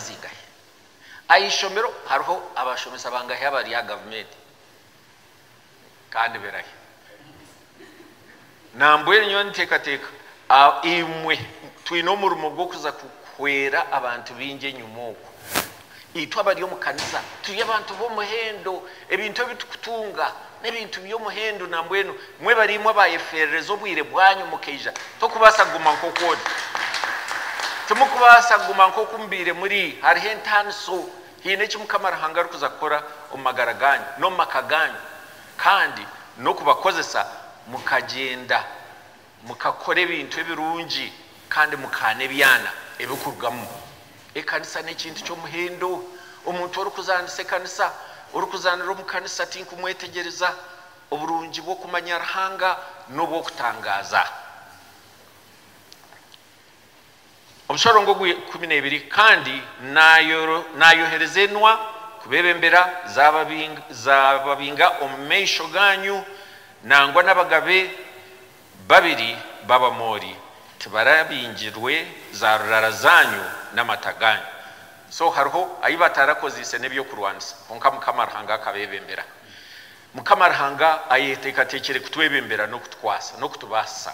zingahi? Aha ishomero hariho abashomesa bangahi abari aha gavumenti kandi birahi? Nambwenu nyowe ninteekateeka imwe twine omurimo gw'okuza kuhwera abantu baingi enyima okwo. Itwe abari omu kanisa turi abantu b'omuhendo, ebintu ebi turikutunga. N'ebintu by'omuhendo nambwenu mwebariimwe abayeferereza obwire bwanyu mukaija tokubaasa kuguma nk'oku ori. Timukubaasa kuguma nk'oku mubaire muri. Hariho entaaniso. Haine eki Mukama Ruhanga arikuza kukora omu magara gaanyu, n'omu maka gaanyu, kandi n'okubakozesa mukagyenda. Mukakora ebintu ebirungi kandi mukaana ebyana ebikurugamu. Ekanisa n'ekintu ky'omuhendo. Omuntu orikuzaanisa ekanisa, orikuzaanira omu kanisa tinkumwetegyereza. Oburungi bw'okumanya Ruhanga n'obw'okutangaaza. Omu sharongo ogwa ikumi n'ebiri kandi naayohereza enwa kubebembera, zaababinga omu maisho gaanyu, nangwa n'abagabe babiri b'Abamoori tibarabingirwe zaarurara zaanyu n'amata gaanyu. So hariho ayi batarakoziise n'eby'okurwanisa, kwonka Mukama Ruhanga akabebembera. Mukama Ruhanga ayeteekateekire kutwebembera n'okutukwasa n'okutubaasisa.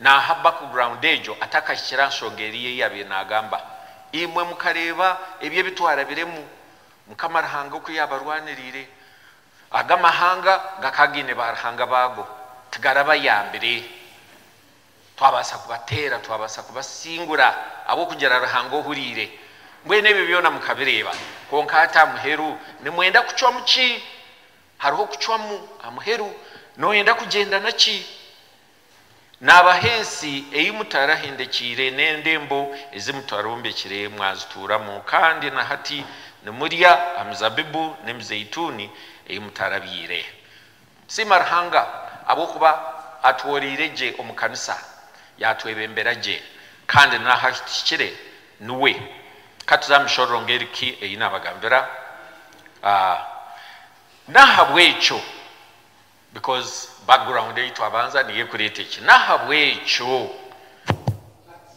Naaha background egyo atakahikire aha nshonga eriya ei yaabaire naagamba. Imwe mukareeba ebyo ebi twarabiremu, Mukama Ruhanga oku yaabarwaniriire. Ago amahanga gakaba gaine baaruhanga baago, tigarabayambire. Twabaasa kubateera, twabaasa kubasingura ahabw'okugira Ruhanga ohuriire. Mbwenu ebyo byona mukabireeba. Kwonka hati aha muheru nimwenda kucwamu ki? Hariho okucwamu amuheru noyenda kugyenda naki? Nabaha ensi ei mutarahendekyeire n'endembo ezi mutararombekire mwazituuramu, kandi na hati nimurya aha mizabibu n'emizeituni ei mutarabyaire. Siima Ruhanga ahabw'okuba atworeire gye omu kanisa, yatwebembera gye, kandi n'aha tuhikire Niwe. Ka tuze aha mishororo ng'eri ki ei naabagambira. N'ahabw'ekyo, because background ei twabanza niyo erikureeta eki. N'ahabw'ekyo, hati.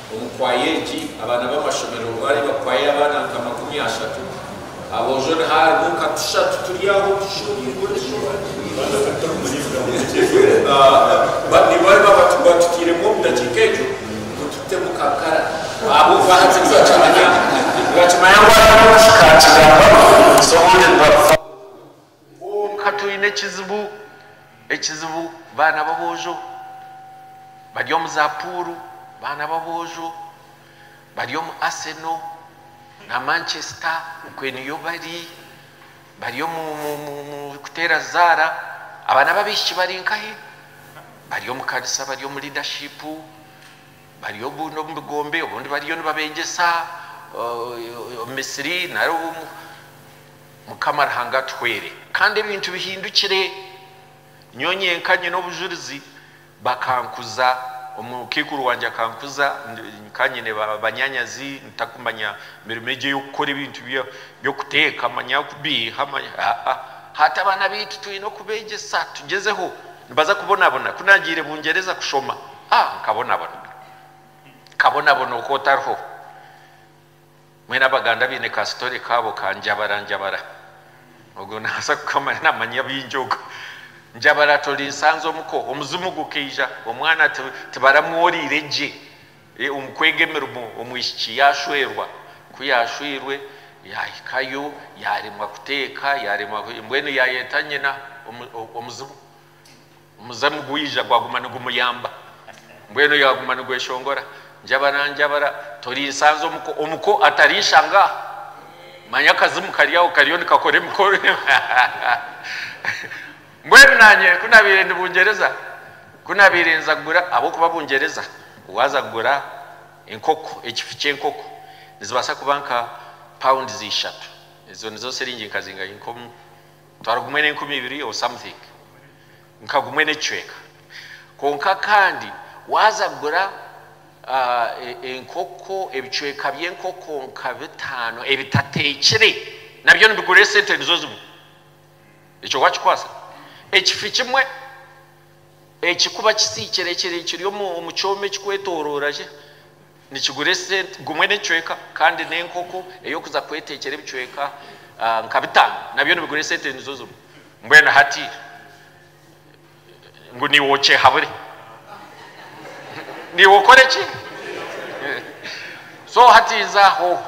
Omu kwaaya egi, abaana b'amashomero baareeba kwaaya y'abaana nka makumi ashatu. Aboojo niho harimu nka tushatu turi aho tushuurirwe. Nibareeba bati, Waatutairemu omu ndakiika egyo ngu tutemu kankara ahabw'okuba hati nitwakimanya. Nibakimanya ngu hariho eki kaakigambaho, so obundi nibakufa. Kwonka twine ekizibu, ekizibu baana b'aboojo bari omu za puuru, baana b'aboojo bari omu Arsenal na Manchester okwe niyo bari, bari omu kuteera zaara, abaana b'abaishiki bari nkahe? Bari omu kanisa bari omu leadership, bari obundi omu bigombe, obundi bariyo nibabeegyesa omu misiri nari omu. Mukama Ruhanga atuhwere kandi ebintu bihindukire. Nyowe nyenka nyine obujurizi, bakankuza, omukaikuru wangye akankuza, nkaba nyine banyanyazi ntakumanya mirimo egi ey'okukora ebintu by'okuteeka manya kubiiha aa hati abaana baitu twine okubeegyesa tugyezeho nibaza kubonabona ku naagiire Bungyereza kushoma aa nkabonabona nkabonabona oku otariho. Mbwenu Abaganda baine ka story kaabo ka Njabara Njabara. Ogwo nabaasa kukamanya namanya bingi ogwo. Njabara ati ori nsanzi omuko, omuzimu gukaija, omwana ati tibaramworiire gye omu kwega emirimo, omwishiki yashwerwa. Ku yashwirwe yahikayo yaremwa kuteeka, yaremwa mbwenu yayeta nyina omuzimu. Omuzamu gwija gwaguma nigumuyamba mbwenu yaguma nigweshongora njabara njabara torinsanze omuko omuko atarishanga aho manya akazimu kari aho kariyo nikakora emikoro mbwenu nanye kunabaire ndi bungyereza kunabaire nza kugura ahabw'okuba bungyereza waaza kugura enkoko ekifi ky'enkoko nizibaasa kuba nka pounds ishatu ezo nizo siringi nka zingahi nk'omu Twari gumwe n'enkumi ibiri or something nka gumwe n'ekicweka kwonka kandi waaza kugura enkoko ebicweka by'enkoko nka bitaano ebitateekire nabyo nibigura esente nizo zimwe ekyo waakikwaasa ekifi kimwe ekikuba kisiikire kiri omu kyoma ekikwetooroora gye. Nikigura esente gumwe n'ekicweka kandi n'enkoko ey'okuza kwetekyera ebicweka nka bitaano nabyo nibigura esente nizo zimwe. Mbwenu hati ngu niiwe okyehabure? Niiwe okore ki? So hati nza aho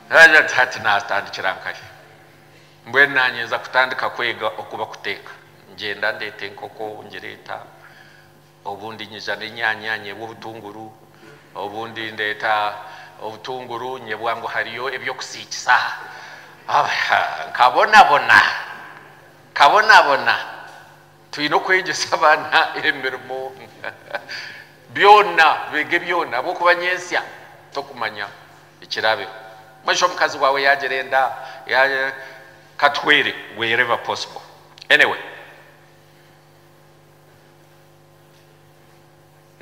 naagira nti hati naatandikira nkahe? Mbwenu naanye nza kutandika kwega oku bakuteeka. Ngyenda ndeeta enkoko ngire eta. Obundi nyiza n'enyanya nyebwa obutunguru, obundi ndeeta obutunguru nyebwa ngu hariyo eby'okusiikisa. Nkabonabona, nkabonabona. Twine okwegyesa abaana emirimo byona, beege byona ahabw'okuba nyentsya tokumanya ekiraabeho. Mwesha omukazi waawe yaagira enda, katuhwere wherever possible. Anyway.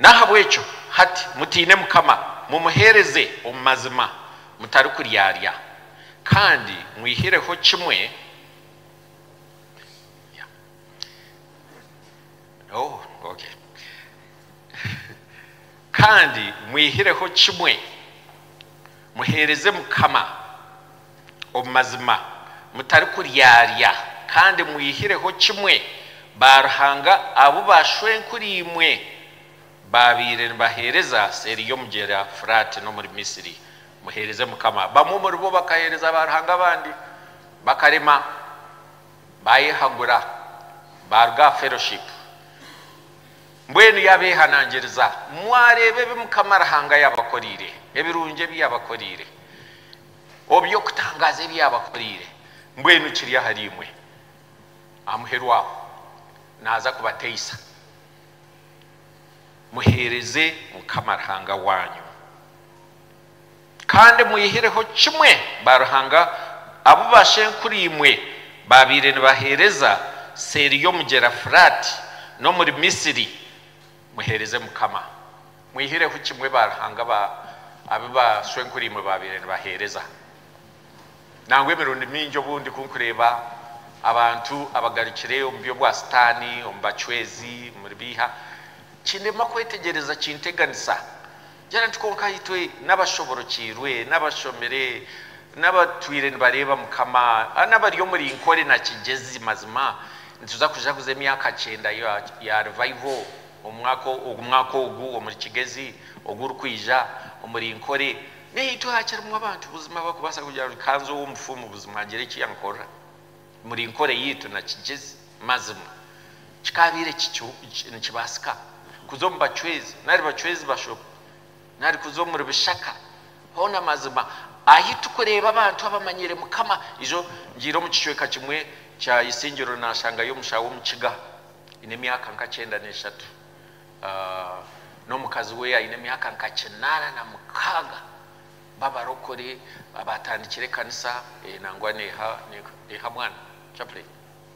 N'ahabw'ekyo hati mutiine Mukama, mumuheereze omu mazima mutarikuryarya, kandi mwihireho kimwe kandi mwihireho kimwe, muheereze Mukama. Omu mazima, mutarikuryarya, kandi mwihireho kimwe baaruhanga abu bashwenkuriimwe baabaire nibaheereza seeri y'omugyera Furaati n'omuri Misri, muheereze Mukama. Bamwe omuri bo bakaheereza baaruhanga abandi, bakarema, baayehagura, baaruga aha fellowship. Mbwenu yaabeehanangiriza, mwareeba ebi Mukama Ruhanga yaabakoreire, ebirungi ebi yaabakoreire. oby'okutangaaza ebi yaabakoreire, mbwenu kiri ahariimwe amuherwaho naaza kubateisa. Muheereze Mukama Ruhanga waanyu, kandi mweyihireho kimwe baaruhanga abu baashenkuriimwe baabaire nibaheereza seeri y'omugyera Furaati n'omuri Misiri. Muheereze Mukama. Mwihireho kimwe ba ruhanga ba abu bashwenkuriimwe baabaire nibaheereza. Nangwa emirundi mingi obundi ku nkureeba abantu abagarukire omu by'obwa Sitaani, omu bacwezi, omuri biiha, kindema kwetegyereza kinteganisa. Gira nti, Kwonka itwe n'abashoborokiirwe, n'abashomire, n'abatwire nibareeba Mukama, n'abari omuri nkore na kigyezi, mazima nituza kujaguza emyaka kyenda ya Revival omu mwaka ogu omuri kigyezi ogurikwija omuri nkore. Naitwe hakirimu abantu buzima abarikubaasa kugira ngu, Ka nze ow'omufumu buzima ngire eki yankorera. Muri nkora yaitu na kigyezi, mazima kikaabaire nikibaasika kuza omu bacwezi nari bacwezi bashobe, nari kuza omuri bishaka hoona, mazima ahi turikureeba abantu abamanyire Mukama. Ijo ngiire omu kicweka kimwe kya Isingiro naashangayo omusha w'Omukiga aine emyaka nka kyenda n'eshatu n'omukazi we aine emyaka nka kinaana na mukaaga. b'abarokore abaatandikire ekanisa ee nangwa neeha neeha mwana chaplain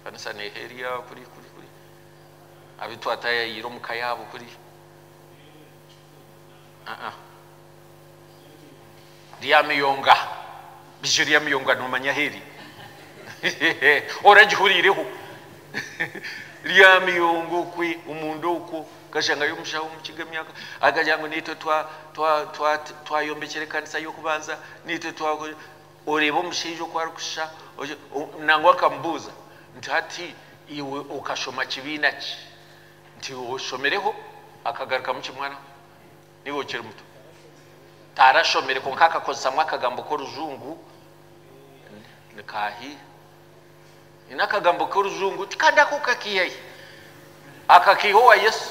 ekanisa neeha eri a kuri kuri kuri abu twatayayiire omu ka yaabo kuri a a Ryamiyonga beijo Ryamiyonga noomanya ahu eri oragihuriireho Ryamiyonga okwe omunda okwo Nkashangayo omushaho omukiga emyaka akagira ngu naitwe twayombekyera ekanisa y'okubanza, naitwe twakora. Oreeba omushaija oku arikushusha. Nangwa nkamubuuza nti, Hati iwe okashoma kibiina ki? Nti iwe oshomireho? Akagarukamu kimwe araho. Niiwe okiri muto. Tarashomire kwonka akakozesamu akagambo k'orujungu. Nikaahiire. Ni n'akagambo k'orujungu tikandi ako okakiihayo akakiiha owa Yesu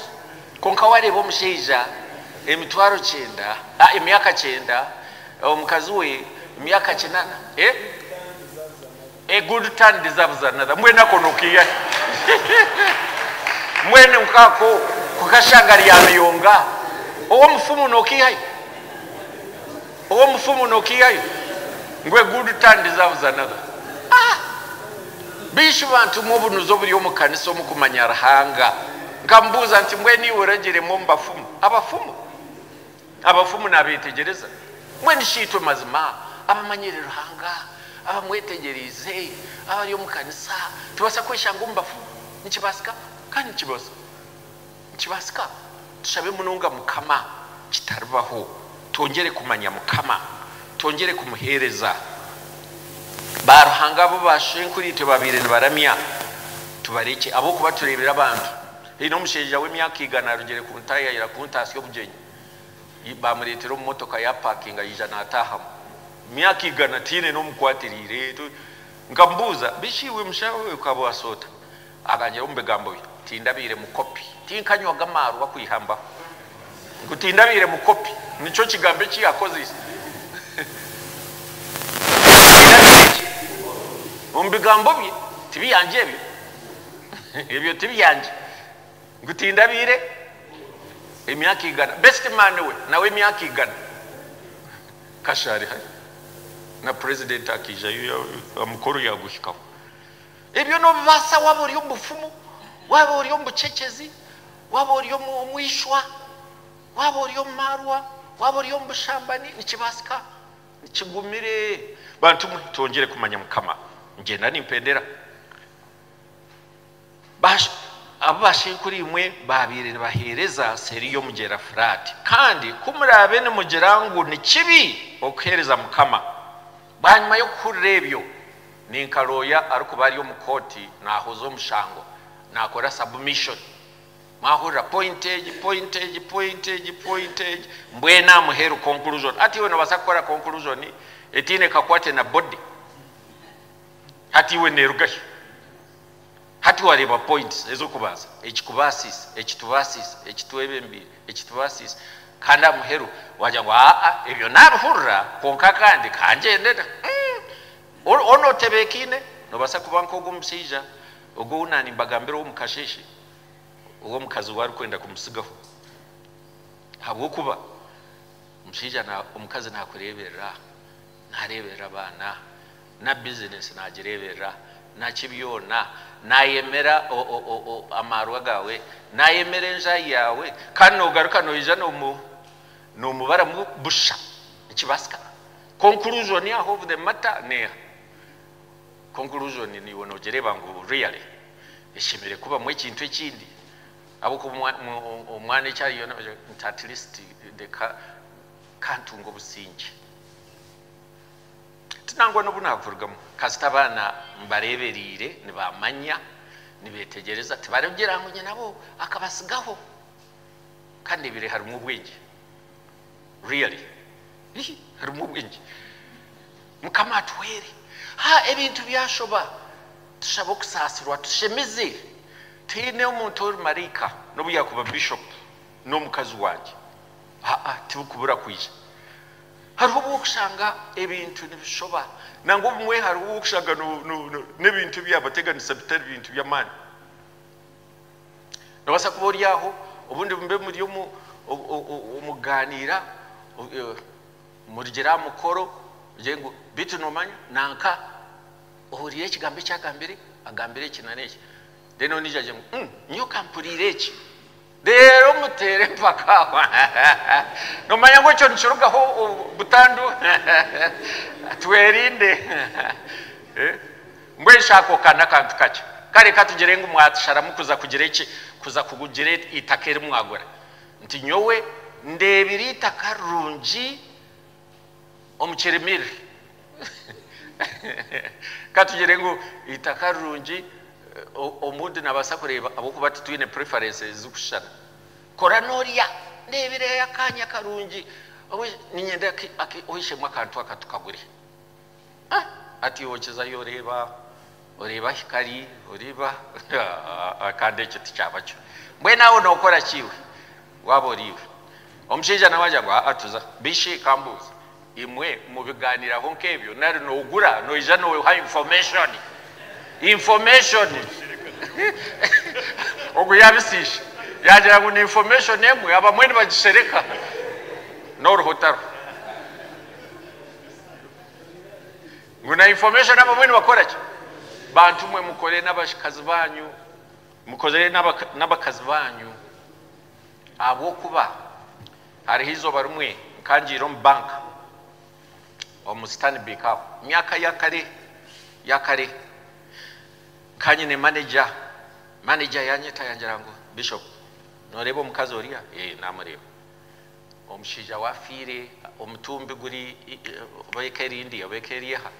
kwonka wareeba omushaija emitwaro kyenda a emyaka kyenda omukazi we myaka kinana e a good turn deserves another mbwenu ako nokiihayo mbwenu nkako kukashanga rya ruyonga owomufumu nokiihayo Owo omufumu nokihayo ngu a good turn deserves another aah Beishi bantu mwe obunuzi oburi omu kanisa omu kumanya Ruhanga nkamubuuza nti mbwenu iwe oragire mwe omu bafumu abafumu abafumu nabetegyereza mbwenu shi itwe mazima abamanyire Ruhanga abamwetegyereize abari omu kanisa tubasa kweshanga omu bafumu nikibasika kandi nikibaho Nikibasika? Tushabe munonga Mukama kitaribaho twongyere kumanya Mukama, twongyere kumuhereza. Ba Ruhanga abu ba shenkuritwe babaire nibaramya tubarekye ahabwokuba turebire abantu. Haine omushaija w'emyaka igana arugire ku ntaahi ayira kuntaatsya obugyenyi. Bamuretera omu motoka yapakinga yaija natahamu. Emyaka igana tiine n'omukwatiriire. Nkamubuuza, beishi iwe mushaho okaba wasoota? Agangira omu bigambo bye, Tindabaire mukopi, tinkanywaga amaarwa kwiha mbaho. Ngu tindabaire mukopi, nikyo kigambo eki yaakozeise. Tindabaire ki? Omu bigambo bye, tibyangye ebyo. Ebyo tibyangye. Ngu tindabaire emyaka igana. Besitimaani we nawe emyaka igana. Kasha ari hare. Na purezidenti akaijayo, omukoro yaaguhikaho. Ebyo noobibaasa waaba ori omu bufumu, waaba ori omu bucecezi, waaba ori omu ishwa, waaba ori omu maarwa, waaba ori omu bushambani, nikibaasika. Nikigumire. Bantu mwe, twongyere kumanya Mukama. Nigyenda nimpendera. Ba, abu bashenkuriimwe baabaire nibaheereza seeri y'Omugyera Furaati. Kandi ku muraabe nimugira ngu ni kibi okuheereza Mukama, Bwanyima y'okuhurira ebyo, ni nka looya arikuba ari omu kooti nahuza omushango, nakora submission, mwahurira point egi, point egi, point egi, point egi, mbwenu amuheru conclusion. Hati iwe nobasa kukora conclusion etiine kakwate na body? Hati iwe nerugashi? Hati wareeba points ezokubanza, ekikubaasiise, ekitubaasiise, ekitwebembeire, ekitubaasiise, kandi aha muheru wagira ngu aa ebyo nabihurira kwonka kandi kangyendera umm onu otebeekaine nobaasa kuba nkogwo omushaija ogwo ou naanimbagambira owomu kasheeshe ou omukazi we arikwenda kumutsigaho ahabwokuba omushaija omukazi nakureeberera aha, nareeberera abaana. na bizinesi naagireeberera, naki byona, naayemera amaarwa gaawe, naayemera enjai yaawe, kandi noogaruka noija noomubaramu busha. Nikibaasika? Conclusion ya of the matter n'eha? Conclusion niiwe noogireeba ngu really eshemereire kubamu ekintu ekindi? Ahabw'okuba omwana eki ariyo naagira nti at least reka kantunge obusingye. Ti nangwa n'obu naakurugamu. Kasita abaana mbareebereire, nibamanya, nibeetegyereza, tibaroogyera ngu nyinabo akabatsigaho. Ka ndeebire harimu obwengye. Really. Hihi, harimu obwengye. Mukama atuhwere. Ha, ebintu byashoba, tushabe okusaasirwa, tushemize. Tihaine omuntu ori maraika, n'obu yaakuba bishopu n'omukazi wangye. Haa, tibikubura kwija. Hariho obu orikushanga ebintu nibishoba, nangwa obumwe hariho obu orikushanga n'ebintu ebi yaabateganisa bitari bintu by'amaani. Noobaasa kuba ori aho, obundi mube muri omu kugaaniira, murugire aha mukoro, ogire ngu, beitu noomanya nanka ohuriire ekigambo eki agambire, agambire eki nari eki. Reero ondiijo agire ngu, nyowe ka mpuriire eki. Reero muteere empaka. Noomanya ngu ekyo nikirugaho butandu. Twerinde. Mbwenu ako ka n'akantu kakye. Kare ka tugire ngu mwatusharamu kuza kugira eki, kuza kugira eitaka eri mwagura. Nti, Nyowe ndeebire eitaka rirungi omukirimiri katugire ngu eitaka rirungi omuntu nabaasa kureeba ahabwokuba titwine preferences zirikushushana kora norya ndebireyo akaanya karungi niinyenda oishemu akantu aka tukagure. Hati iwe kizayo oreeba oreeba ahi kari oreeba kandi ekyo tikyaba kyo mbwenu aho nookora ki iwe waaba ori iwe omushaija nawe agira ngu aa tuza bishi kambuuze imwe mubigaaniraho nk'ebyo nari noogura noija nooha information information ogwo yaabisiisha yaagira ngu ni information emwe abamwe nibagishereka noruho tariho. Ngu na information abamwe nibakora ki? Bantu mwe mukore n'abakazi banyu mukozere n'abakazi banyu ahabw'okuba hariho eizooba rimwe nkangiire omu bank omu Stanbic aho myaka ya kare ya kare nkanyine manager manager yanyeta yangira ngu Bishop noreeba omukazi oriya? Eeh namureeba Omushaija we afiire, omutumbi guri oba eka erindi oba eka eri aha.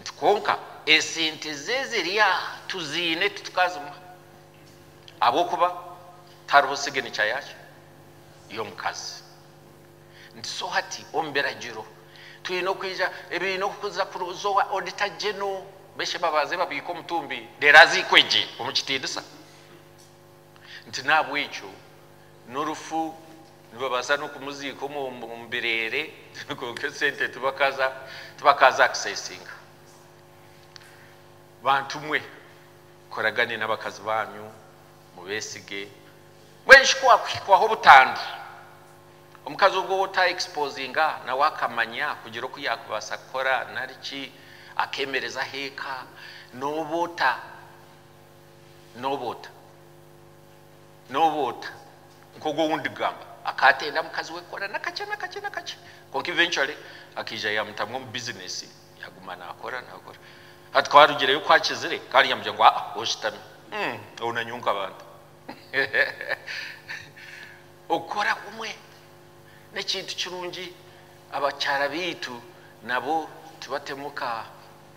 Nti kwonka esente ze ziri aha, tuziine titukazimuha ahabw'okuba tihariho siginica yaaki? Y'omukazi. Nti so hati omu biragiro twine okwija ebiine okuza kuza owa Auditor General, beeshe babanze babiike omutumbi reero aziikwe gye omu kitiinisa. nti n'ahabw'ekyo n'orufu nibabaasa n'okumuziika omu bireere kwonka esente tibakaaza akisesinga. Bantu mwe, mukoragane n'abakazi baanyu, mubeesige, mbwenu shi ku waakuhikwaho obutandu, omukazi ogwo ou ota exposinga nawe akamanya kugira oku yaakubaasa kukora nari ki akeemereza ah'eka, n'obu ota Nooba ota? Nooba ota? Nk'ogu ou ndigamba, akaatenda mukazi we kukora nakakye nakakye nakakye, kwonka eventually akaija yaamutamu omu bizineesi, yaaguma naakora naakora. Hati ku arugireyo ku akizire, kandi yaamugira ngu, Aa, oshutami. Umm, ou nanyowe nka bantu. Okukora kumwe n'ekintu kirungi. Abakyara baitu nabo tibatemu ka.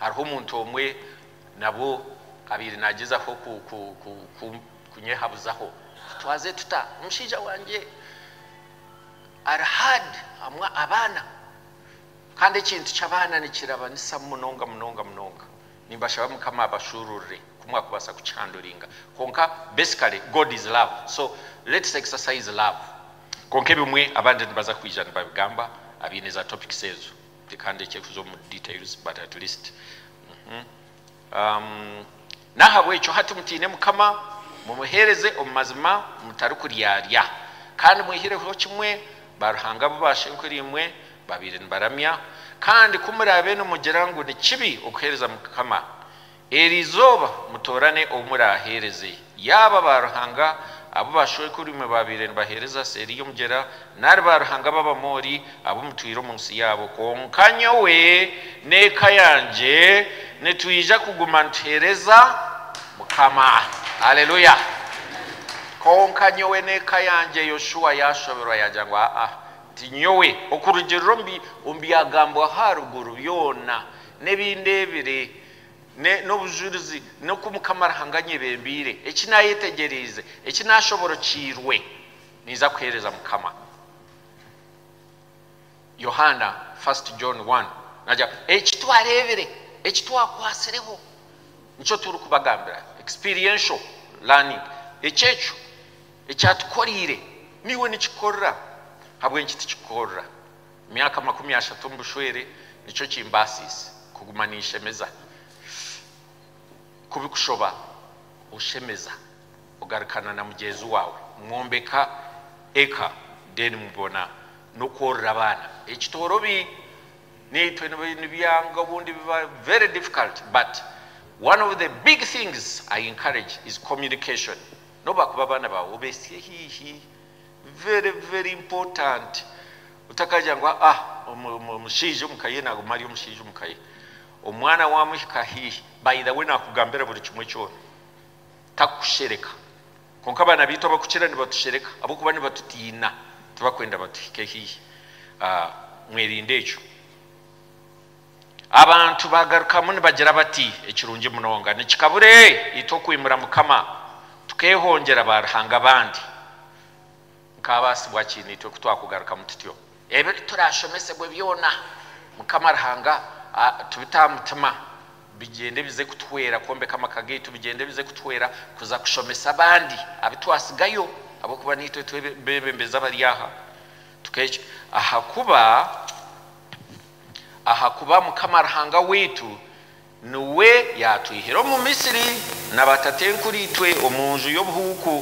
Hariho omuntu omwe nabwo abaire nagyezaho kunyehabuzaho tutwaze tuta omushaija wangye ari hard amu abaana kandi ekintu kyabaana nikirabanisa munonga munonga munonga nimbashaba mukama abashururire kumwakubasa kukihanduringa kwonka basically God is love so let's exercise love kwonka ebimwe abandi nibaza kwija nibabigamba abaine za topics ezo. Tikandiikye kuza omu details but at least N'ahabw'ekyo hati mutiine Mukama, mumuheereze omu mazima mutarikuryarya, kandi mwehireho kimwe baaruhanga abu baashenkuriimwe baabaire nibaramya, kandi ku muraabe nimugira ngu ni kibi okuheereza Mukama, Eri izooba mutoorane ou muraaheereze, yaaba baaruhanga abu baashwekweirwe baabaire nibaheereza seeri y'omugyera, nari baaruhanga b'Abamoori abu mutwire omu nsi yaabo. Kwonka nyowe n'eka yangye nitwija kuguma nituheereza Mukama. Haleluya! Kwonka nyowe n'eka yangye. Yoshua yaashoberwa yaagira ngu, Aa-a, tinyowe! Okurugiirira omu byagambwa aha ruguru byona n'ebi ndeebire, n'obujurizi n'oku Mukama Ruhanga anyebembeire, eki naayetegyereize, eki naashoborokiirwe, niinza kuheereza Mukama. Yohaana, First John one, naagira ngu, Eki twareebire, eki twakwatsireho, nikyo turikubagambira, experiential learning, eky'ekyo ekyatukoreire, naiwe nikikorera, ahabw'enki tikikoorera? Emyaka makumi ashatu omu bushwere nikyo kimbaasiise kuguma ninshemeza. Ku bikushoba, oshemeza ogarukana na mugyenzi waawe, mwombeka eka then mubona n'okworora abaana. Ekitoorobi naitwe nibyanga obundi biba very difficult but one of the big things I encourage is communication. N'obu baakuba abaana baawe obeitsye haihi Very very important otakagira ngu aa omushaija omuka ye naguma ari omushaija omuka ye omwana wamuhika haihi by the way nakugambira buri kimwe kyona takukushereka kwonka abaana baitu abakukira nibatushereka ahabwokuba nibatutiina tibakwenda batuhike haihi mwerinde ekyo. Abantu baagarukamu nibagira bati, Ekirungi munonga! Nikikabure itwe okwimura Mukama, tukeehongyera baaruhanga abandi. Nkaabaasibwa ki naitwe ku twakugarukamu tutyo? Ebi turaashomesebwe byona, Mukama Ruhanga atubite aha mutima, bigyende bize kutuhwera kwombeka amaka gaitu, bigyende bize kutuhwera kuza kushomesa abandi abu twatsigayo, ahabw'okuba naitwe tube beebembezi abari aha. Ahakuba. Ahakuba Mukama Ruhanga waitu niwe yaatwihire omu Misri na batatenkuriitwe omu nju y'obuhuuku,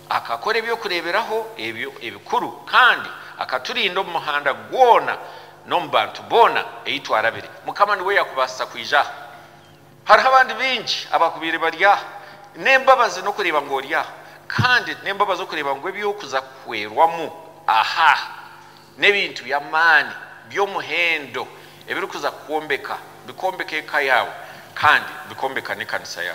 akakora eby'okureeberaho ebyo ebikuru, kandi akaturinda omu muhanda gwona n'omu bantu boona ei twarabire. Mukama niwe yakubaasisa kwija aha. Hariho abandi baingi abakubaire bari aha. N'embabazi n'okureeba ngu ori aha, kandi n'embabazi okureeba ngu eby'okuza kuhwerwamu aha. N'ebintu by'amaani by'omuhendo ebirikuza kukwombeka, bikombeka eka yaawe kandi bikombeka n'ekanisa ya.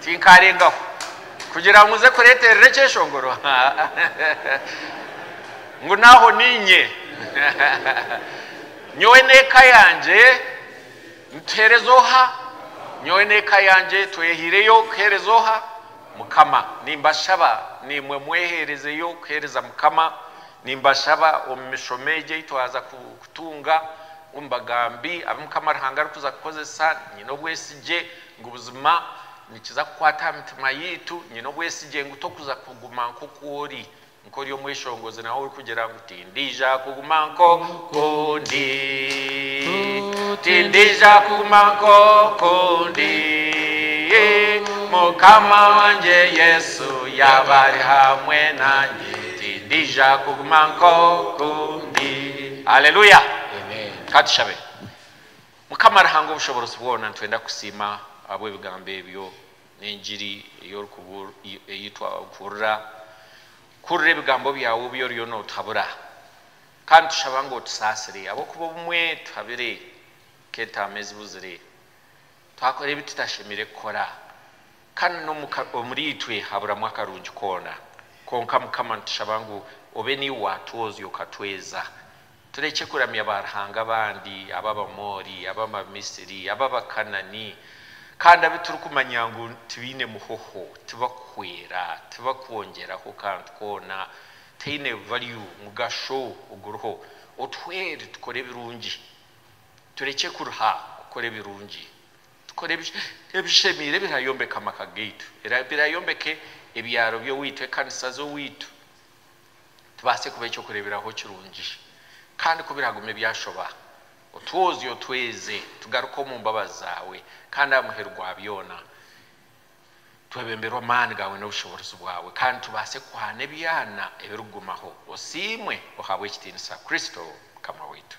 Tinkaarengaho kugira ngu nze kureeterera ekyeshongoro ngu n'aho niinye. Nyowe n'eka yangye nituheereza oha? Nyowe n'eka yangye twehaireyo kuheereza oha? Mukama. Nimbashaba naimwe mweheerezeyo kuheereza Mukama. Nimbashaba omu mishomo egi ei twaza kutunga, omu bagambi abu Mukama Ruhanga arikuza kukozesa, nyine obwesigye Ngu buzima nikiza kukwata aha mitima yaitu. Nyine obwesigye ngu tokuza kuguma nk'oku ori, nk'ori omweshongozi nawe orikugira ngu, Tindiija kuguma nk'oku ndi. Tindiija kuguma nk'oku ndi. Mukama wangye Yesu yaaba ari hamwe nangye, tindiija kuguma nk'oku ndi. Haleluya! Ka tushabe. Mukama Ruhanga Obushoboorozi bwoona nitwenda kukusiima ahabw'ebigambo ebyo n'engiri ei twahurira. Kuhurira ebigambo byaawe obi oriyo nootuhabura. Kandi nitushaba ngu otusaasire ahabw'okuba obumwe tuhabire nk'entaama ezibuzire, twakora ebi tutashemeire kukora kandi n'omu omuriitwe haburamu akarungi koona. Kwonka Mukama nitushaba ngu obe naiwe waatwoozya okatweeza Turekye kuramya baaruhanga abandi, ab'Abamoori, ab'Abamisiri, ab'Abakanani, kandi abu turikumanya ngu tibaine muhoho, tibakuhwera, tibakwongyeraho kantu koona, tihaine value, mugasho, oguriho. Otuhwere tukore ebirungi. Turekye kuruha kukora ebirungi. Tukore ebishemeire ebiraayombeka amaka gaitu, ebiraayombeka ebyaro by'owaitu, ekanisa z'owaitu, tubaase kuba eky'okureeberaho kirungi. Kandi ku biraagume byashoba, otwozye otweze tugaruke omu mbabazi zaawe, kandi aha muheru gwa byona twebemberwe amaani gaawe n'obushoboorozi bwawe, kandi tubaase kuhana ebyana ebirikugumaho. Osiimwe, ohabwe ekitiinisa. Kristo Mukama waitu.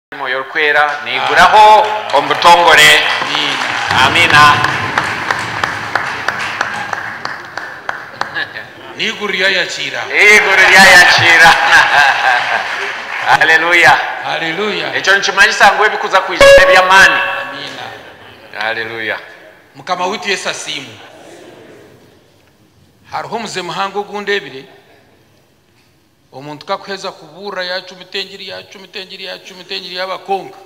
Mwoyo Orikwera naiguraho omu butongore. Amiina. N'eiguru ryayakiira. Eiguru ryayakiira. Haleluya. Haleluya. Ekyo nikimanyisa ngu ebikuza kwija n'eby'amaani. Amiina. Haleluya. Mukama waitu Yesu asiimwe. Hariho omuze muhango ogu ndebire. Omuntu ku akuheza kubuurira yaacumita engiri, yaacumita engiri, yaacumita engiri yaaba kwonka,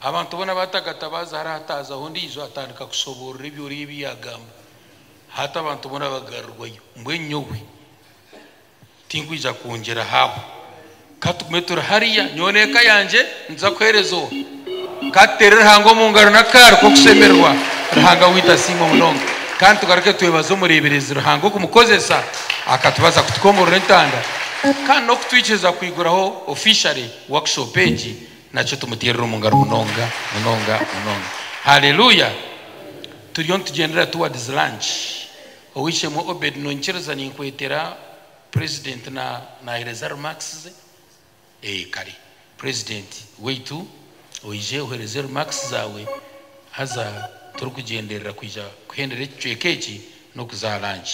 abantu boona baatagatabaaza hara hataazaho ondiijo atandika kushoboorora ebyo oriya ebi yaagamba, hati abantu boona bagarurirwayo. Mbwenu nyowe tinkwija kwongyeraho aho. Ka tugume turi hariya, nyowe n'eka yangye nituza kuheereza Owe. Ka tuteere Ruhanga omu ngaro n'akaaro k'okushemererwa. Ruhanga waitu asiimwe munonga. Kandi tugaruke twebaze omureeberezi Ruhanga okumukozesa akatubaza kutukomborora entanda kandi n'okutwikiriza kwiguraho ofishale workshop egi. Nakyo tumuteerere omu ngaro munonga munonga munonga. Haleluya! Turiyo nitugyendera towards lunch. Ow'eishe-emwe Obed, noinyikiriza? Ninkweetera. President na nahereza remarks ze? Eeh kare president waitu oije ohereze remarks zawe haza turikugyenderera kwija kuhendera ekicweka eki n'okuza aha lunch.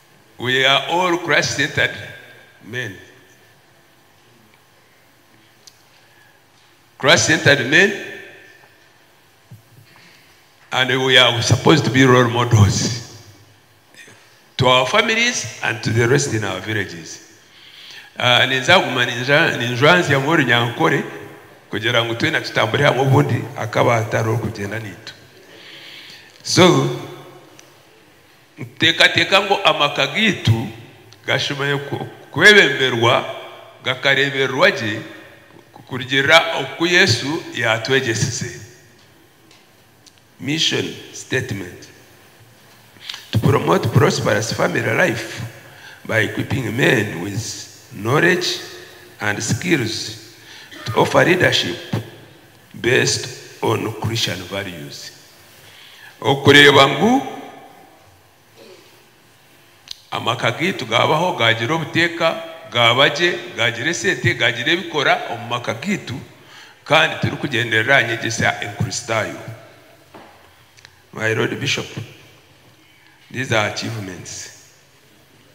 We are all Christ centered men Christ centered men and we are supposed to be role models to our families and to the rest in our villages uh, ninzaguma ninjwanzya ngu orunyankore kugira ngu twena tutambure hamwe obundi akaba atari orikugyenda naitu so Nituteekateeka ngu amaka gaitu gashemereire kwebemberwa gakareebererwa gye kurugiirira oku Yesu yaatwegyesize. Mission Statement, To promote prosperous family life by equipping men with knowledge and skills to offer leadership, Based on Christian values okureeba ngu amaka gaitu gaabaho, gaagira obuteeka, gaaba gye, gaagira esente, gaagira ebikora omu maka gaitu kandi turikugyenderera aha nyegyesa enkristaayo. My Lord Bishop, these are achievements.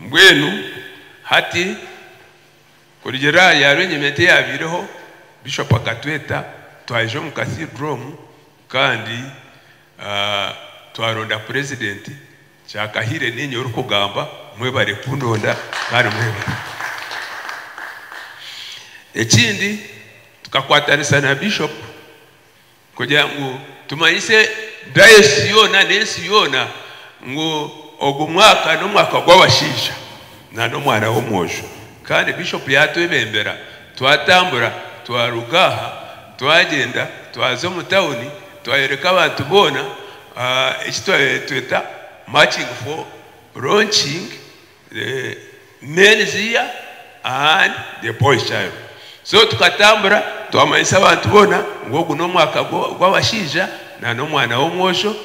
mbwenu hati kurugira aha yaaba enyimete yaabaireho bishopu akatweta twaija omu kasidromu kandi Twaronda purezidenti kyakahire ninye orikugamba mwebare kundonda kandi mwebare ekindi tukakwatanisa na bishop kugira ngu tumanyise dayosisi yoona n'ensi yoona ngu ogu mwaka n'omwaka gw'abashaija na n'omwana w'omwojo kandi bishop yatwebembera twatambura twaruga aha twagyenda twaza omu tawuni Twayoreka abantu boona eki tweta Marching for launching the men's year and the boys child so tukatambura twamanyisa abantu boona ngu ogu n'omwaka gw'abashaija na n'omwana w'omwojo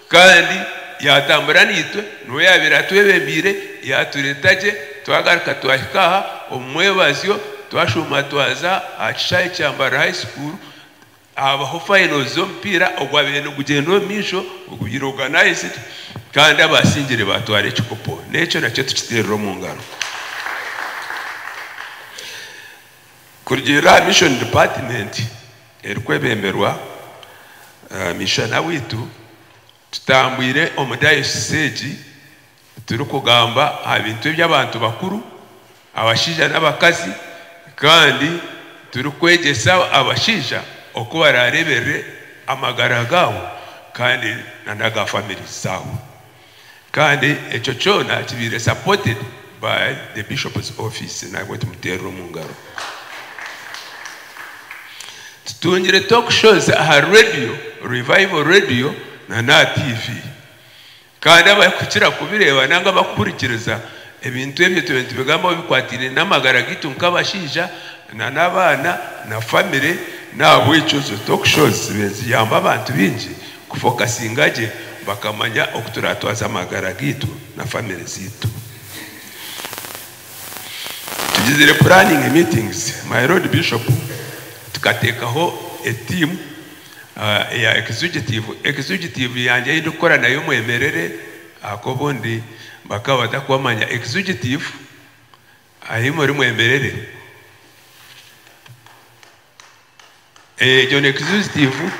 kandi yatambura naitwe niwe yaabaire atwebembeire yaatureeta gye twagaruka twahika aha omu mwebazyo twashuuma twaza aha kishaayi kya Mbarara High School. Haabaho fayino z'omupiira ogwabaire nigugyenda omu maisho ogubaire organized kandi abaasingire baatwara ekikopo n'ekyo nakyo tukiteerire omu ngaro. Kurugiirira aha Mission Department erikwebemberwa Mishana waitu, tutambwire omu dayosisi egi Turikugamba aha bintu eby'abantu bakuru, abashaija n'abakazi, kandi turikwegyesa abashaija oku baraareeberere amagara gaabo kandi n'aga famire zaabo. Kandi ekyo kyona kibaire supported by the Bishop's Office. Nabwe tumuteerere omu ngaro. Tutungire talk shows aha reediyo, Revival Radio, n'aha TV. Kandi abarikukira kubireeba nari abarikuhurikiriza ebintu ebyo turiyo nitubigambaho bikwataine n'amagara gaitu nk'abashaija nari abaana na famire. N'ahabw'ekyo zo Talk Shows zibaire niziyamba abantu baingi kufokasinga gye bakamanya oku turatwaza amagara gaitu na famire zaitu. Tugizire planning meetings, my Lord Bishop, tukateekaho etiimu. ya executive executive yangye ei ndikukora nayo mwemerere ahabw'okuba obundi bakaba batakumanya executive ahi muri mwemerere egyo ni executive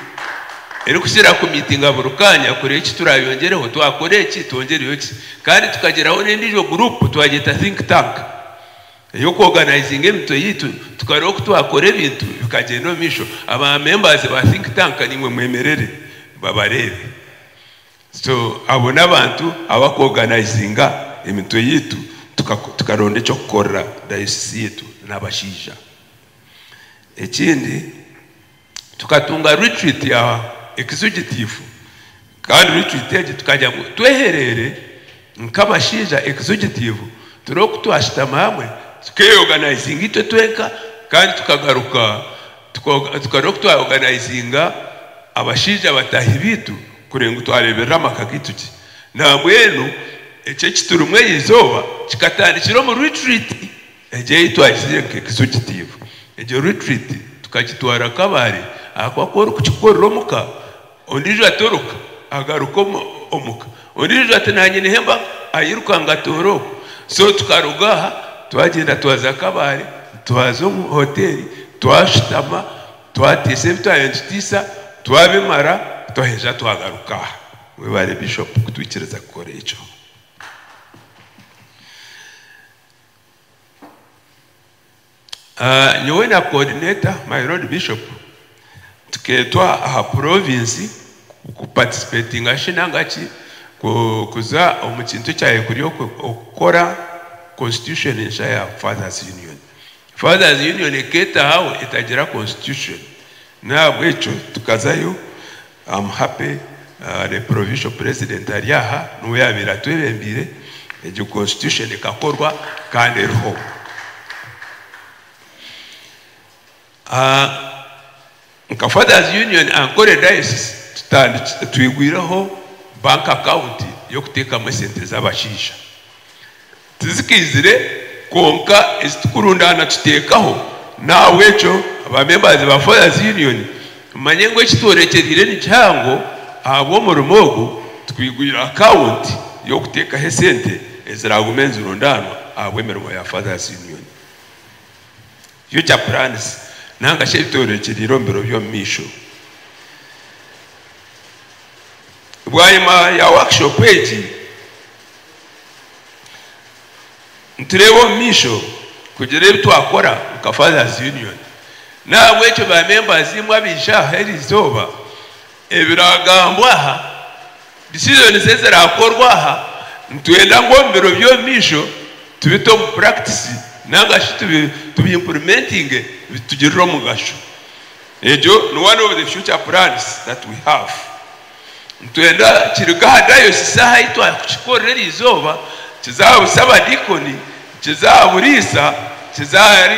erikukira kumitinga buri kaanya kureba eki turayongyereho twakora eki twongyereyo ki kandi tukagiraho n'endiijo guruupu twagyeta think tank ey'okwoganaizinga emitwe yaitu tukareba oku twakora ebintu bikagyenda omu maisho. Aba members ba think tank naimwe mwemerere babareebe. So abo n'abantu abakwoganaizinga emitwe yaitu tukaronda eky'okukorera diocese yaitu n'abashaija. Ekindi. Tukatunga ritriiti ya ekizigitifu kandi ritriiti egi tukagira ngu twehereere nk'abashaija ekizigitifu turi oku twashutama hamwe tukeeyoganaizinga itwe twenka kandi tukagaruka tukareba oku twayoganaizinga abashaija bataahi baitu kureba ngu twareeberera amaka gaitu gye. Nambwenu eki ekiturimu erizooba kikatandikira omu ritriiti. Egyo ei twagizire nka ekizo kitiibwa. Egyo retreat tukagitwara nk'abaare ahakuba ku orikukikorera omuka, ondiijo atoroka agaruka omuka, ondiijo ati naanye nihemba airuka ngu atoore oku. So tukaruga aha twagyenda twaza nk'abaare, twaza omu hoteeri, twashutama, twatiisa ebi twayenda nitutiisa, twabimara twaheza twagaruka aha. Mwebare Bishop kutwikiriza kukora ekyo. Nyowe na coordinator my lord bishop tukeetwa aha province kupatisipetinga shi nangaki kuza omu kintu ekyayekuri okukora constitution ensha ya fathers union. Fathers union ekeetahaho etagira constitution nahabwekyo tukazayo. Am happy the provincial president ari aha niwe yabaire atwebembeire egyo constitution ekakorwa kandi eriho. Nka fathers union Ankole diocese tutandikire twigwireho bank account y'okuteekamu esente z'abashaija. Tizikaizire kwonka ezi turikurundaana tuteekaho. N'ahabw'ekyo abaamembazi ba Fathers Union, mumanye ngu eki tworekyereire ni kihango ahabw'omurimo ogu, tikwigwire akaawunti y'okuteekaho esente eziraagume nizirundaanwa ahabw'emirimo ya Fathers Union. Future Plans nanga shi ebitworokyerire omu biro by'omumaisho. Bwanyima ya workshop egi, nitureeba omu maisho kugira ebi twakora nka Fathers Union. N'ahabw'ekyo ba members imwe abaija aha eri izooba Ebiragambwa aha decisions ezirakorwa aha, nitwenda ngu omu biro by'omumaisho tubite omu practice nanga shi tubi implementinge bitugirire omugasho. Egyo ni one of the future plans that we have. Nitwenda kiruge aha diocese aha ahi twakukikorera eri izooba, kize aha busabadiikoni, kize aha buriisa, kize ahari.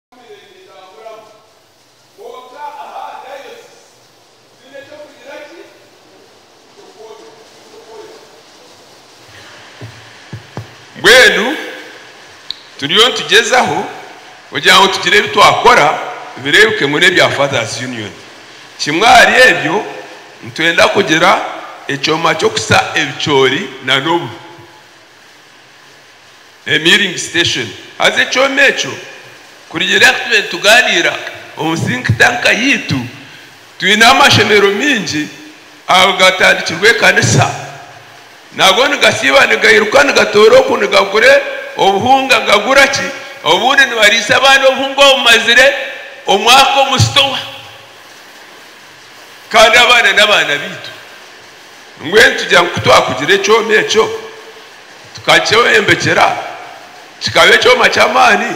Mbwenu turiyo nitugyezaho kugira ngu tugire ebi twakora bireebeke ngu n'ebya Fathers Union. Kimwe ahari ebyo nitwenda kugira ekyoma ky'okusa ebicoori na n'obu. Emiringi Station. Haza ekyoma ekyo kurigira ngu tube nitugaaniira omu think tank yaitu, twine amashomero maingi agatandikirwe ekanisa, nago nigasiiba nigairuka nigatoora oku nigagura obuhunga gagura ki, obundi nibariisa abaana obuhunga obumazire omwaka omu sitowa, kandi abaana n'abaana baitu. Mbwenu tugira ngu ku twakugira ekyoma ekyo, tukakyeyombekyera, kikaba ekyoma ky'amaani,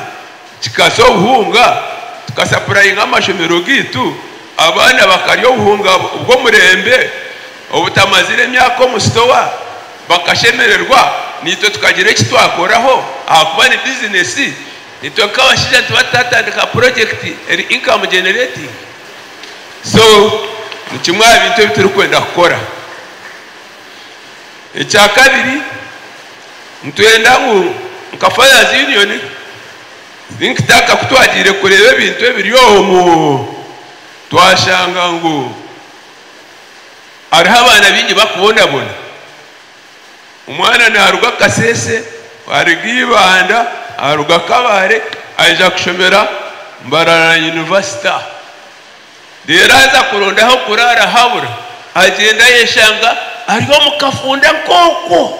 kikasa obuhunga, tukasapurayinga amashomero gaitu, abaana bakarya obuhunga bw'omurembe obutamazire myaka omu sitowa, bakashemererwa, naitwe tukagira eki twakoraho ahakuba ni bizinesi. Naitwe nk'abashaija nitubaasa tutatandika purojekiti eri inkamu gyeneretingi? So ni kimwe aha bintu ebi turikwenda kukora. Ekya kabiri, nitwenda ngu nka Fathers Union, think tank ku twagiire kureeba ebintu ebiri omu, twashanga ngu hariho abaana baingi barikubonabona. Omwana naaruga Kasese, aruga Ibanda, aruga Kabale aija kushomera Mbarara University. Reero aza kuronda ah'okuraara habura, agyenda ayeshanga ari omu kafunda nk'okwo.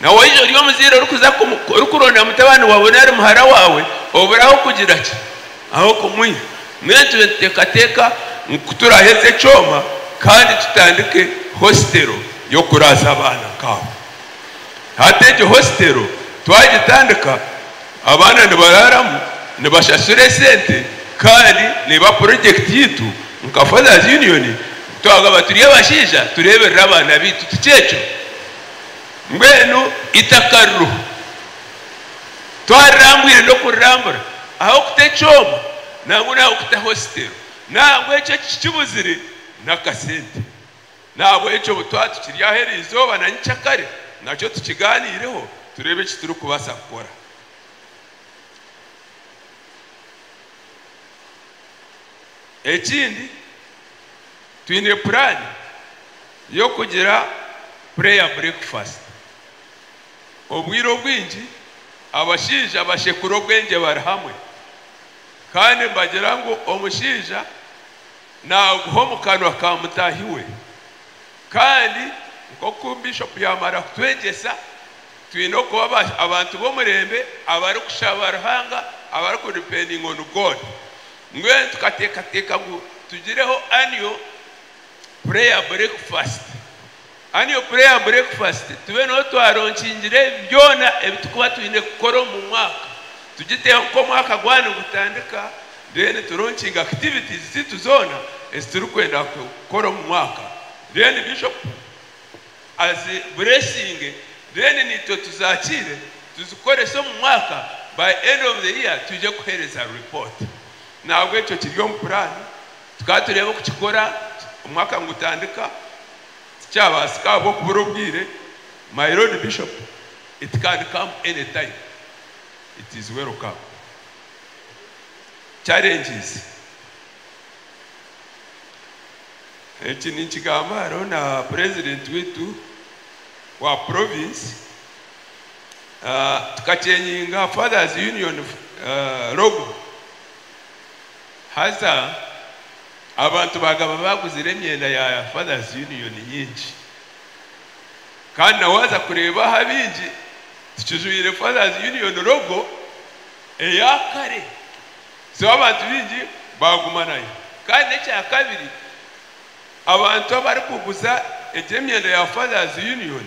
Na waija ori omuzaire orikuza orikuronda mutabani waawe nari muhara waawe, oburaho kugira ki? Ahabw'okumwiha. Mbwenu tube nituteekateeka ngu turaaheza ekyoma kandi tutandike hositero y'okuraasa abaana nk'abo. Hati egyo hositero twagitandika, Abaana nibaraaramu, nibashashura esente kandi neiba project yaitu nka Fathers Union twagamba turi abashaija tureeberere abaana baitu tikyekyo? Mbwenu eitaka ririho twarirambwire n'okurirambura ahabw'okuta ekyoma nangwa n'ahabw'okuta hositero nangwa ekyo ekikibuzire n'akasente. N'ahabw'ekyo obu twaba tukiri aha eri izooba na nyiky'a kare, nakyo tukigaaniireho, tureebe eki turikubaasa kukora. Ekindi, twine puraani y'okugira Prayer Breakfast. Obwire obwingi abashaija bashekura obwengye bari hamwe, kandi nibagira ngu omushaija, Naaguha omu kanwa ka mutaahi we. Kandi nk'oku Bishopu yaamara kutwegyesa, twine okuba abantu b'omurembe abarikushaba Ruhanga, abariku depending on God. Mbwenu tukateekateeka ngu tugireho annual prayer breakfast. Annual Prayer and Breakfast, Tube noobu twaronkingire ebi byona ebi turikuba twine kukora omu mwaka. Tugiteho nka omwaka gwaba nigutandika, then turonkinge activities zaitu zoona ezi turikwenda kukora omu mwaka. Then Bishop azi blessinge, then naitwe tuzakiire tuzikorese omu mwaka, by end of the year twije kuheereza report. Nahabwekyo kiri omu puraani. Tukaatureeba okukikora omwaka nigutandika tikyabaasika ahabw'okubura obwire, my Lord Bishop it can come any time it is welcome challenges eki ninkigamba hariho na President waitu wa Province tukakyengyinga Fathers Union logo. Haza abantu baagaba baaguzire emyenda ya Fathers Union nyingi. Kandi na waaza kureeba aha bingi, tikijwaire Fathers Union logo eya kare. So abantu baingi baaguma nayo. Kandi n'ekya kabiri, abantu abarikuguza egyo emyenda ya Fathers Union,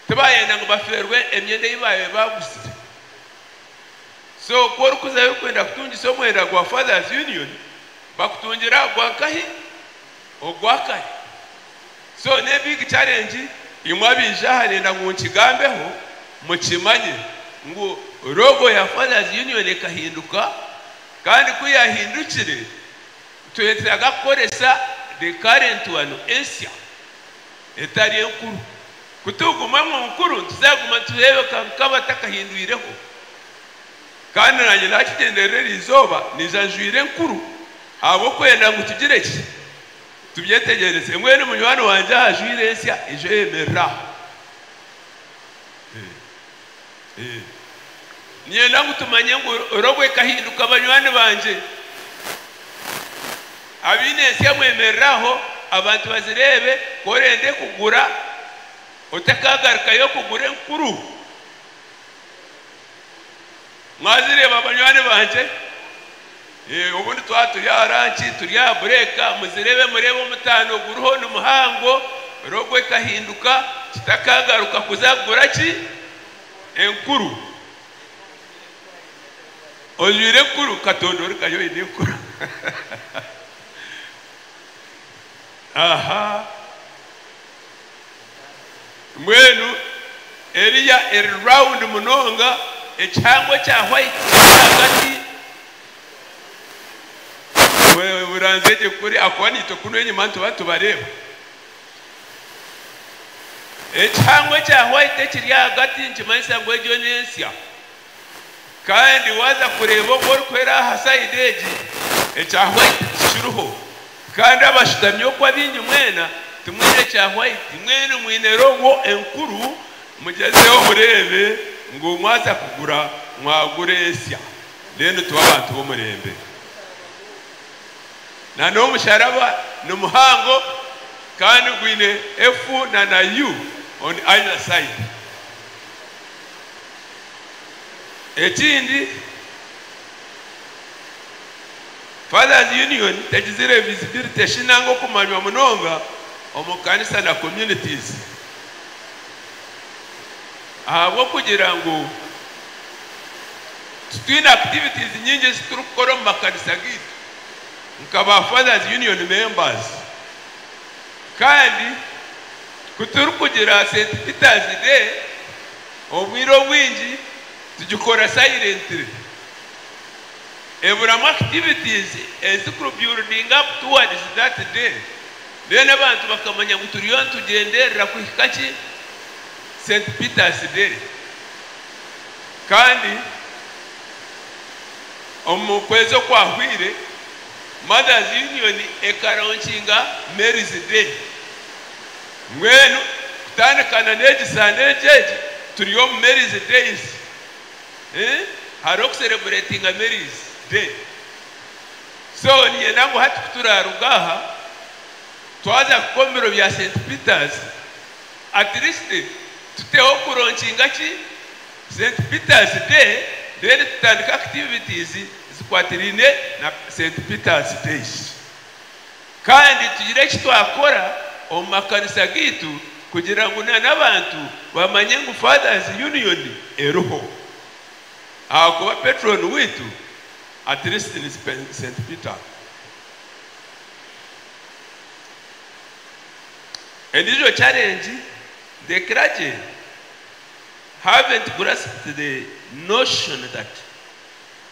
tibaayenda ngu bafeerwe emyenda ei baabaire baaguzire. So ku orikuzayo orikwenda kutungisa omwenda gwa Fathers Union, bakutungire aha gwa nkahi? Ogwa kare. So ne big challenge imwe abaija aha nenda ngu nkigambeho mukimanye ngu logo ya Fathers Union ekahinduka kandi ku yahindukire twetaaga kukoresa the current one ensya. etari enkuru. Ku turikuguma ngu nkuru, nituzaaguma nitureebeka nk'abatakahindwireho. Kandi naanye naakigyenderera eri izooba niija njwaire enkuru ahabw'okwenda ngu tugire ki? Tubyetegyereze. Mbwenu munywani wangye ajwaire ensya, eijo eyemerera aha. Niinyenda ngu tumanye ngu robo ekahinduka banywani bangye. Abaine ensya mwemerere aho abantu bazireebe, ku orenda ekugura otakaagarukayo kugura enkuru. Mwazireeba banywani bangye? Eeh, obundi twaba turi aha ranki, turi aha bureeka, muzireebe mureebe omutaano oguriho ni muhango, rogo ekahinduka, kitakaagaruka kuza kugura ki? Enkuru. Ojwaire enkuru? Katonda origayo oine enkuru. Aha. Mbwenu eriya eri round munonga, ekihango ekya white kiri ahagati. Oranzya gye kuri ahakuba naitwe kunu enyima nituba tubareeba. Ekihango ekya white ekiri ahagati nikimanyisa ngu egyo n'ensya. Kandi waaza kureeba ogu orikwera aha sayidi egi, ekya hwaiti tikiriho. Kandi abashutami oku abaingi mwena timwine kya hwaiti, mwena mwine rogo enkuru. Mugyezeho mureebe ngu mwaza kugura mwagura etsya. Mbwenu tube abantu b'omurembe. Na n'omusharaba ni muhango kandi gwine F na na U on either side. Ekindi, Fathers Union tegizire visibility shi nanga okumanywa munonga omu kanisa na communities ahabw'okugira ngu titwine activities nyingi ezi turikukora omu makanisa gaitu nka ba Fathers Union members kandi ku turikugira St Peter's Day Obwire obwingi tugikora sayirentire. Eburamu activities ezi kurubyurudinga up towards that day then abantu bakamanya ngu turiyo nitugyenderera kuhika ki Saint Peter's day kandi omu kwezi okwahwire Mothers Union ekaraunchinga Mary's day. Mbwenu kutandika na n'egi Sunday'egi egi turi omu Mary's Days, eeh, hariho kusereburetinga Mary's Day. So niinyenda ngu hati kuturaaruga aha, twaza kuhika omu biro bya Saint Peter's, at least tuteho kuronkinga ki? Saint Peter's Day, then tutandike activities zikwatiraine na Saint Peter's Days. Kandi tugire eki twakora omu makanisa gaitu kugira ngu na n'abantu bamanye ngu Fathers Union eriho. Ahakuba Patron waitu at least ni St Peter. Endijo challenge the clergy haven't grasped the notion that.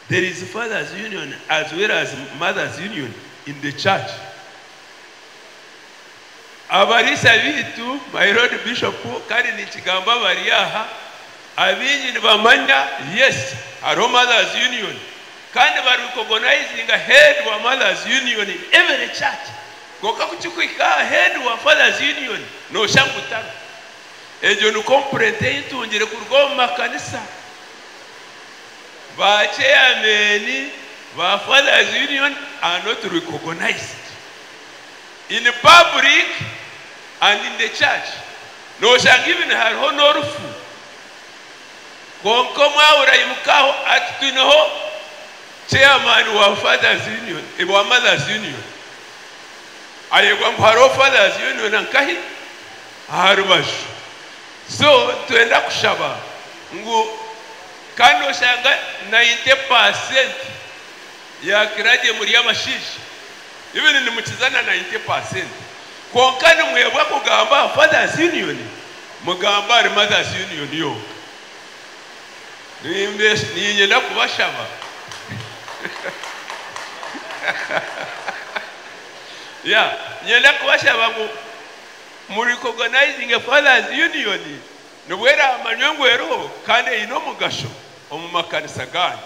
There is fathers union as well as mothers union in the church abariisa baitu my lord bishop kandi ninkigamba abari aha abaingi nibamanya yes hariho mothers union kandi bari recognizinga head wa mothers union in every church kwonka ku kikuhika aha head wa fathers union noshanga ngu tariho egyo ni complaint ei ntungire kuruga omu makanisa. Ba Chairman ba Fathers Union are not recognized in public and in the church, noshanga even hariho n'orufu kwonka omwaura aimukaho ati twineho Chairman wa Fathers Union, wa Mothers Union, ayebwa ngu hariho Fathers Union nkahi? Aharubaju. So nitwenda kushaba ngu. Kandi oshanga nainte paasenti yakira gye muri abashaija, even nimukiza na nainte paasenti, kwonka nimwebwa kugamba aha Fathers Union, mugamba ahari Mothers Union yonka. Niinyenda kubashaba yeah, niinyenda kubashaba ngu murikogonizinge Fathers Union. Nibwo eraamanywe ngu eriho kandi eine omugasho omu makanisa gaanyu.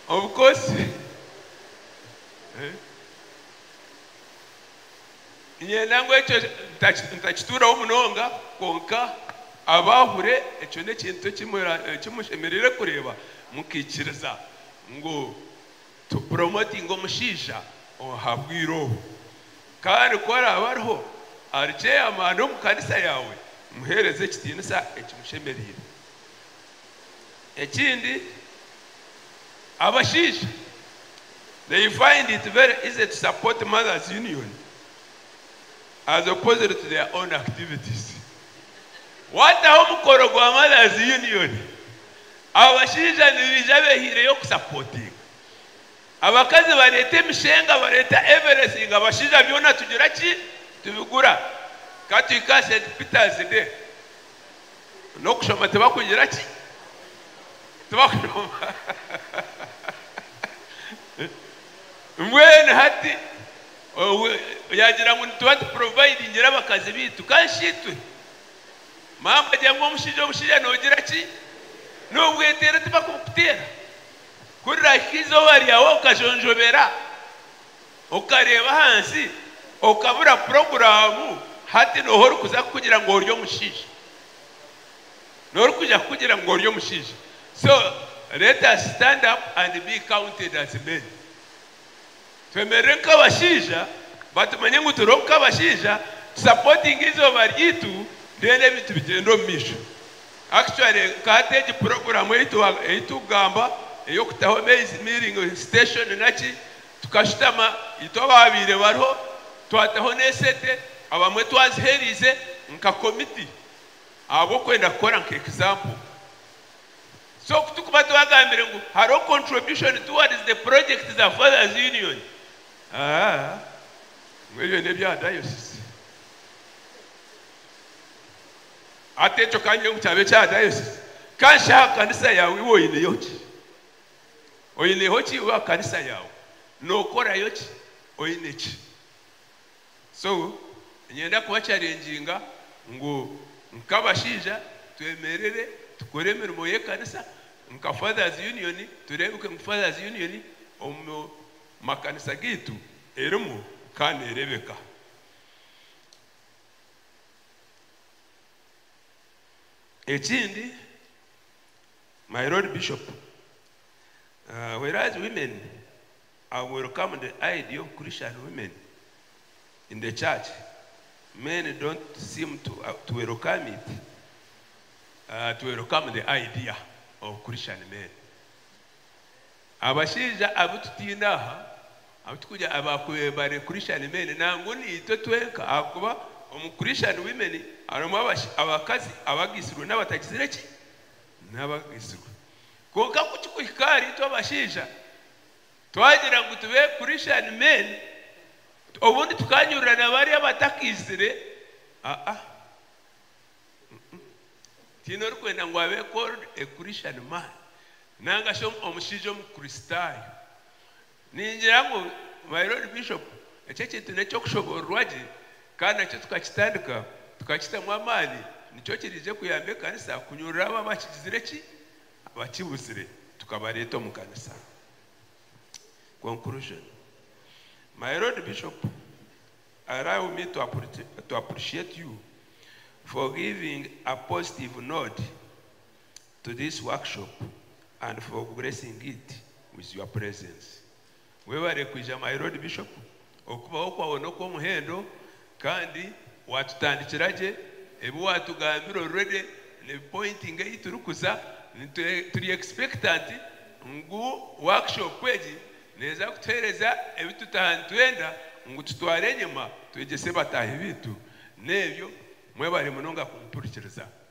Obukozi, Niinyenda ngu ekyo ntakituuraho munonga, kwonka abaahure ekyo n'ekintu eki mushemereire kureeba mukaikiriza ngu. Tu promotinga omushaija oha bwire obu kandi ku araabe ariho ari chairman omu kanisa yaawe muheereze ekitiinisa ekimushemereire. Ekindi abashaija they find it very easy to support mothers union as opposed to their own activities. Waataho omukoro gwa mothers union Abo bashaija nibaija behiireyo kusapotinga. Abakazi bareeta emishenga, bareeta everything, abashaija byona tugira ki? Tubigura. Ka tuhike aha Saint Peter's Day, n'okushoma tibakugira ki? Tibakushoma. Mbwenu hati yaagira ngu nituba tuprovidingire abakazi baitu, ka shi itwe? Maama agira ngu omushaija omushaija noogira ki? Noobweteera tibakubukuteera? Ku riraahika eizooba ryawe okajonjobera, okareeba ahansi, okabura puroguraamu, hati nooha orikuza kukugira ngu ori omushaija? Nooha orikuza kukugira ngu ori omushaija? So let us stand up and be counted as men. Twemerere nk'abashaija batumanye ngu turiho nk'abashaija tu supportinge eizooba ryaitu then ebintu bigyende omu maisho. Actually nka hati egi program eyi tukugamba ey'okutaho maize milling station naki tukashutama itwe abaabaire bariho twataho n'esete abamwe twazihereize nka committee ahabw'okwenda kukora nka example. So ku tukuba twagambire ngu hariho contribution towards the project za Fathers Union, haa, ngu ebyo n'ebya Diocese. Hati ekyo ka ngire ngu kyaba ekya Diocese, ka nshe aha kanisa yaawe iwe oineyo ki? Oineho ki iwe aha kanisa yaawe? Nookorayo ki? Oine ki? So niinyenda kubacarenginga ngu nk'abashaija twemerere tukore emirimo y'ekanisa nka Fathers Union tureebeke ngu Fathers Union omu makanisa gaitu erimu kandi neerebeka. Ekindi My Lord Bishop, whereas women I welcome the idea of Christian women in the church, men don't seem to to welcome it, to welcome the idea of Christian men. Abashaija abu tutaine aha, abu turikugira abakubire bari Christian men nangwa niitwe twenka ahakuba omu Christian women harimu abakazi abagitsirwe n'abatagitsire ki? N'abagitsirwe. Kwonka ku kikuhika ahari itwe abashaija, twagira ngu tube Christian men, obundi tukanyurura na bari abatakiizire, aa, mm-mm, tihaine orikwenda ngu abe called a Christian man, nanga shi omushaija Omukristaayo. Ningira ngu my Lord Bishop eki ekintu n'eky'okushoboororwa gye kandi nakyo tukakitandika tukakitamu amaani nikyo kiriije kuyamba ekanisa kunyurura abo abakigizire ki? abakibuzire tukabareeta omu kanisa. Conclusion My Lord Bishop allow me to to appreciate you for giving a positive note. to this workshop and for gracing it with your presence Webare kwija my Lord Bishop okubaho kwawe nokwomuhendo kandi watutandikira gye ebi watugambira already nibi pointing ahi turi kuza turi expectant ngu workshop egi neza kutuhereza ebi tutaha nitwenda ngu tutware enyima twegyese bataahi bitu nebyo Mwebare munonga kumumpurikiriza.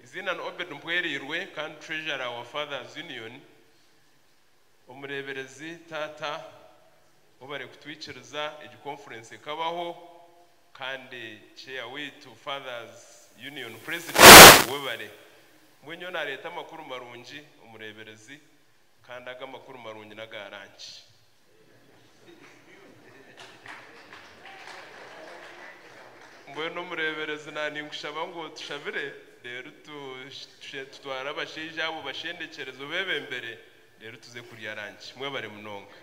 Eiziina ni Obed Mpwereirwe kandi Treasurer wa Fathers Union, omureeberezi taata ou barikutwikiriza egi conference ekabaho kandi Chair waitu Fathers Union President webare. Mbwenu nyowe naareeta amakuru marungi omureeberezi kandi ago amakuru marungi n'aga ranki. Mbwenu omureeberezi naaninkushaba ngu tushabire, reero tutware abashaija abo obashendekyereze obeebembere, reero tuze kurya ranki. Mwebare munonga.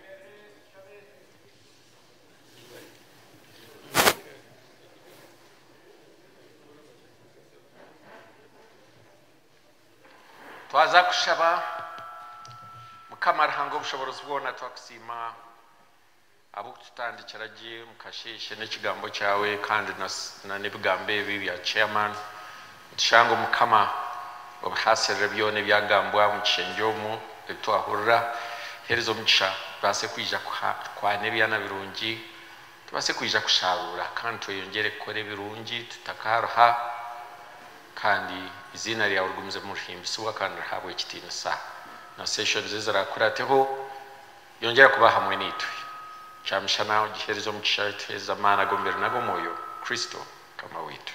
Twaza kushaba, Mukama Ruhanga Obushoboorozi bwoona twakusiima ahabw'okututandikira gye omu kasheeshe n'ekigambo kyaawe kandi na n'ebigambo ebi bya Chairman. Nitushanga Omukama obihaasirire byoona ebyagambwa omu kishengye omu ebi twahurira. Heereza omugisha tubaase kwija kukwaana ebyaana birungi Tubaase kwija kushaaruura kandi tweyongyere kukora ebirungi tutakaruha, kandi eiziina ryawe rigumize nirihimbisibwa kandi rihabwe ekitiinisa. Na seeshoni ze ziraakurateho, yongyera kuba hamwe naitwe. Kyamishana ogiheereze omugisha, otuheereze amaani ag'omubiri n'ag'omwoyo. Kristo Mukama waitu.